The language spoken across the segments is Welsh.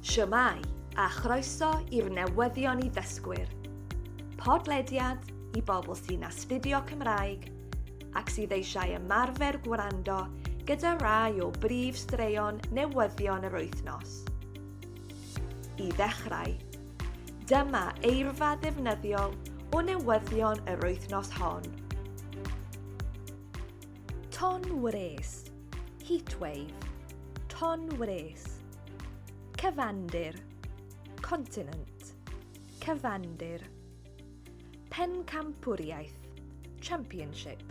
Shwmae, a chroeso i'r newyddion i ddysgwyr. Podlediad i bobl sy'n astudio Cymraeg ac sydd eisiau ymarfer gwrando gyda rai o brif straeon newyddion yr wythnos. I ddechrau, dyma eirfa ddefnyddiol o newyddion yr wythnos hon. Ton wres, heatwave, ton wres. Cyfandir, continent, cyfandir. Pencampwriaeth, championship,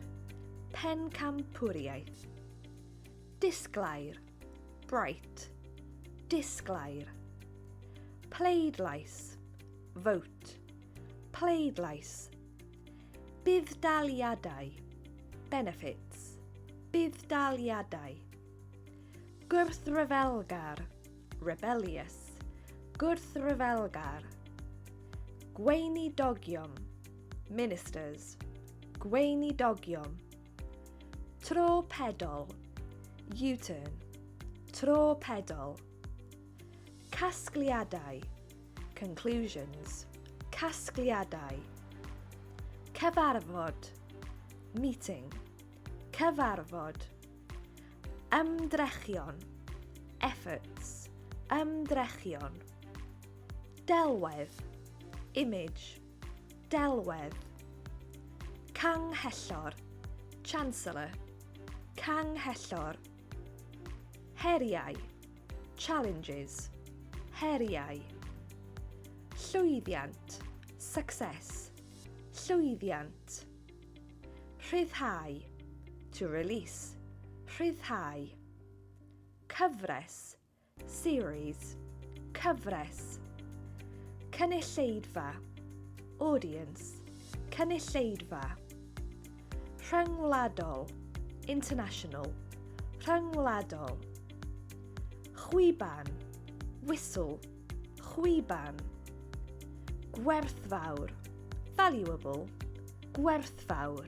pencampwriaeth. Disglair, bright, disglair. Pleidlais, vote, pleidlais. Budd-daliadau Benefits Budd-daliadau Gwrthryfelgar Rebellious Gwrthryfelgar Gweinidogion Ministers Gweinidogion Tro pedol U-turn Tro pedol Casgliadau Conclusions, casgliadau, cyfarfod, meeting, cyfarfod, ymdrechion, efforts, ymdrechion, delwedd, image, delwedd, canghellor, chancellor, canghellor, heriau, Challenges, heriau. Llwyddiant, success, llwyddiant. Rhyddhau, to release, rhyddhau. Cyfres, series, cyfres. Cynulleidfa, audience, cynulleidfa. Rhyngwladol, international, rhyngwladol. Chwiban, whistle, chwiban. Gwerthfawr, valuable, gwerthfawr.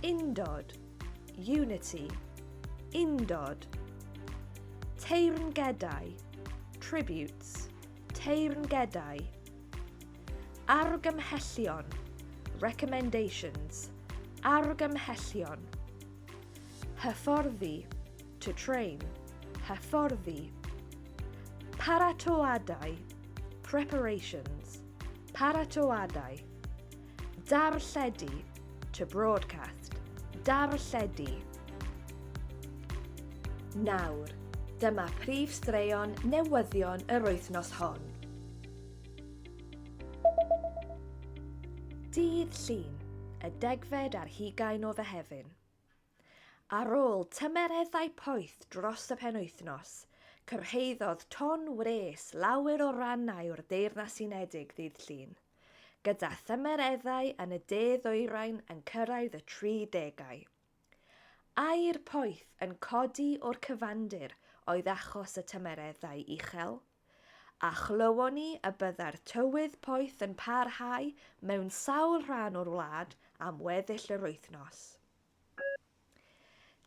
Undod, unity, undod. Teyrngedau, tributes, teyrngedau. Argymhellion, recommendations, argymhellion. Hyfforddi, to train, hyfforddi. Paratoadau, preparations, paratoadau. Darlledu, to broadcast, darlledu. Nawr, dyma prif straeon newyddion yr wythnos hon. Dydd Llun, y degfed ar hugain o Fehefin. Ar ôl tymereddau poeth dros y penwythnos, cyrhaeddodd ton wres lawer o rannau o'r Deyrnas Unedig ddydd Llun, gyda thymereddau yn y De Ddwyrain yn cyrraedd y 30au. Aer poeth yn codi o'r cyfandir oedd achos y tymereddau uchel. a chlywon ni y byddai'r tywydd poeth yn parhau mewn sawl rhan o'r wlad am weddill yr wythnos.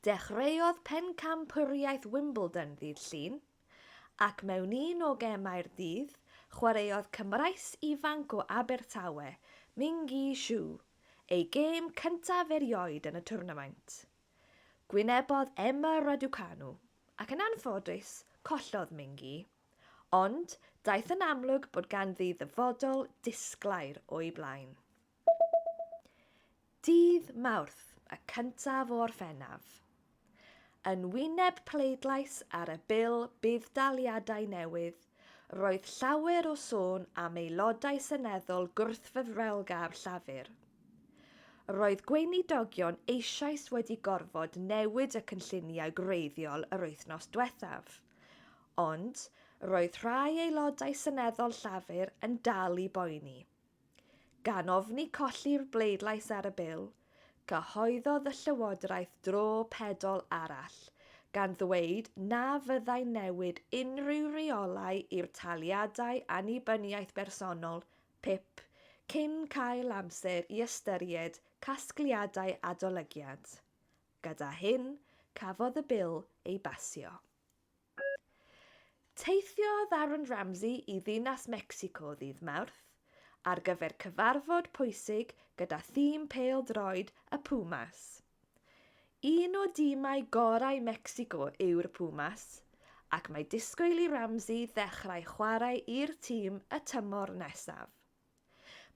Dechreuodd Pencampwriaeth Wimbledon ddydd Llun, ac mewn un o gemau'r dydd, chwaraeodd Cymraes ifanc o Abertawe, Mingyi Xu, ei gêm cyntaf erioed yn y twrnamaint. Gwynebodd Emma Raducanu. ac yn anffodus, collodd Mingi. Ond, daeth yn amlwg bod ganddi ddyfodol disglair o'i blaen. Dydd Mawrth, y cyntaf o Orffennaf. Yn wyneb pleidlais ar y Bil Budd-daliadau newydd, Roedd llawer o sôn am aelodau seneddol gwrthfeddrelgar Llafur. Roedd gweinidogion eisoes wedi gorfod newid y cynlluniau gwreiddiol yr wythnos dwethaf. Ond, roedd rhai aelodau seneddol Llafur yn dal i boeni. Gan ofni colli'r bleidlais ar y Bil, cyhoeddodd y Llywodraeth dro pedol arall, gan ddweud na fyddai'n newid unrhyw reolau i'r taliadau annibyniaeth bersonol, pip, cyn cael amser i ystyried casgliadau adolygiad. Gyda hyn, cafodd y Bil ei basio. Teithiodd Aaron Ramsey i ddinas Mecsico ddydd Mawrth ar gyfer cyfarfod pwysig gyda thîm pêl-droed y Pumas. Un o dimau gorau Mecsico yw'r Pumas, ac mae disgwyl i Ramsey ddechrau chwarae i'r tîm y tymor nesaf.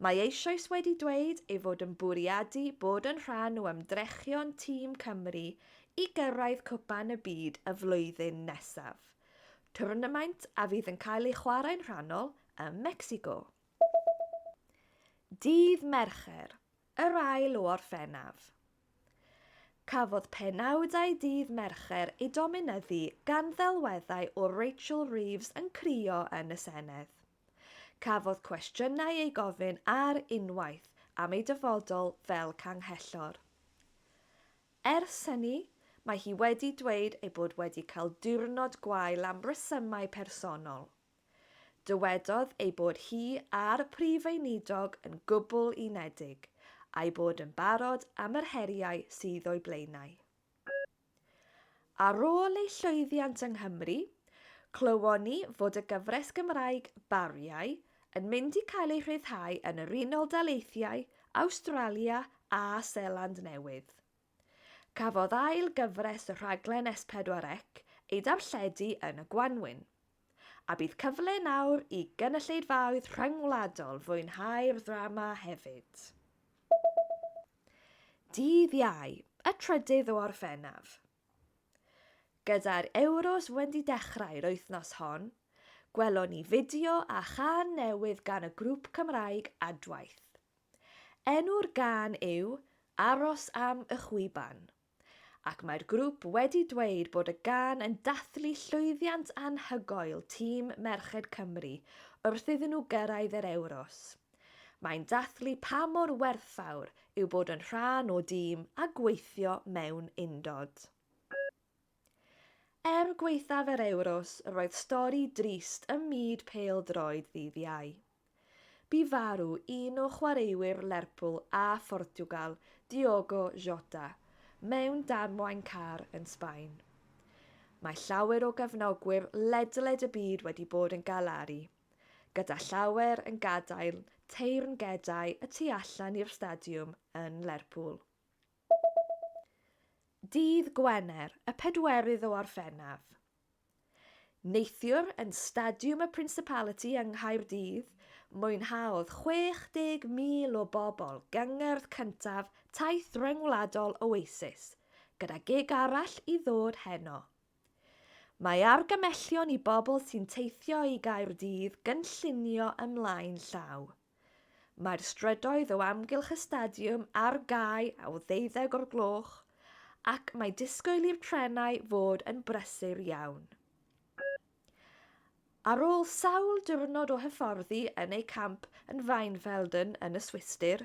Mae eisoes wedi dweud ei fod yn bwriadu bod yn rhan o ymdrechion tîm Cymru i gyrraedd Cwpan y Byd y flwyddyn nesaf, twrnamaint a fydd yn cael ei chwarae'n rhannol ym Mecsico. Dydd Mercher, yr ail o Orffennaf. Cafodd penawdau dydd Mercher eu dominyddu gan ddelweddau o Rachel Reeves yn crio yn y Senedd. Cafodd cwestiynau eu gofyn ar unwaith am ei dyfodol fel Canghellor. Ers hynny, mae hi wedi dweud ei bod wedi cael diwrnod gwael am resymau personol. Dywedodd ei bod hi a'r Prif Weinidog yn gwbl unedig, a'i bod yn barod am yr heriau sydd o'i blaenau. Ar ôl ei llwyddiant yng Nghymru, clywon ni fod y gyfres Gymraeg 'Bariau' yn mynd i cael ei rhyddhau yn yr Unol Daleithiau, Awstralia a Seland Newydd. Cafodd ail gyfres y rhaglen S4C ei darlledu yn y gwanwyn. A bydd cyfle nawr i gynulleidfaoedd rhyngwladol fwynhau'r ddrama hefyd. Dydd Iau, y trydydd o Orffennaf. Gyda'r Ewros wedi dechrau'r wythnos hon, gwelon ni fideo a chân newydd gan y grŵp Cymraeg Adwaith. Enw'r gân yw 'Aros am y Chwiban'. ac mae'r grŵp wedi dweud bod y gân yn dathlu llwyddiant anhygoel tîm merched Cymru wrth iddyn nhw gyrraedd yr Ewros. Mae'n dathlu pa mor werthfawr yw bod yn rhan o dîm a gweithio mewn undod. Er gwaethaf yr Ewros, roedd stori drist ym myd pêl-droed ddydd Iau. Bu farw un o chwaraewyr Lerpwl a Phortiwgal, Diogo Jota, mewn damwain car yn Sbaen. Mae llawer o gefnogwyr ledled y byd wedi bod yn galaru, gyda llawer yn gadael teyrngedau y tu allan i'r stadiwm yn Lerpwl. Dydd Gwener, y pedwerydd o Orffennaf, Neithiwr yn Stadiwm y Principality yng Nghaerdydd, mwynhaodd 60,000 o bobl gyngerdd cyntaf taith ryngwladol Oasis, gyda gig arall i ddod heno. Mae argymellion i bobl sy'n teithio i Gaerdydd gynllunio ymlaen llaw. Mae'r strydoedd o amgylch y stadiwm ar gau o ddeuddeg o'r gloch ac mae disgwyl i'r trenau fod yn brysur iawn. Ar ôl sawl diwrnod o hyfforddi yn eu camp yn Weinfelden yn y Swistir,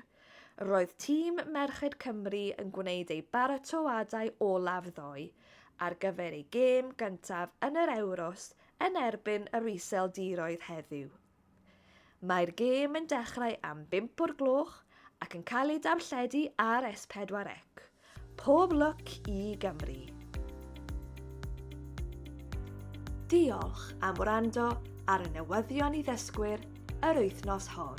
roedd tîm merched Cymru yn gwneud eu baratoadau olaf ddoe ar gyfer eu gêm gyntaf yn yr Ewros yn erbyn yr Iseldiroedd heddiw. Mae'r gêm yn dechrau am bump o'r gloch ac yn cael ei darlledu ar S4 C. Pob lwc i Gymru! Diolch am wrando ar y newyddion i ddysgwyr yr wythnos hon.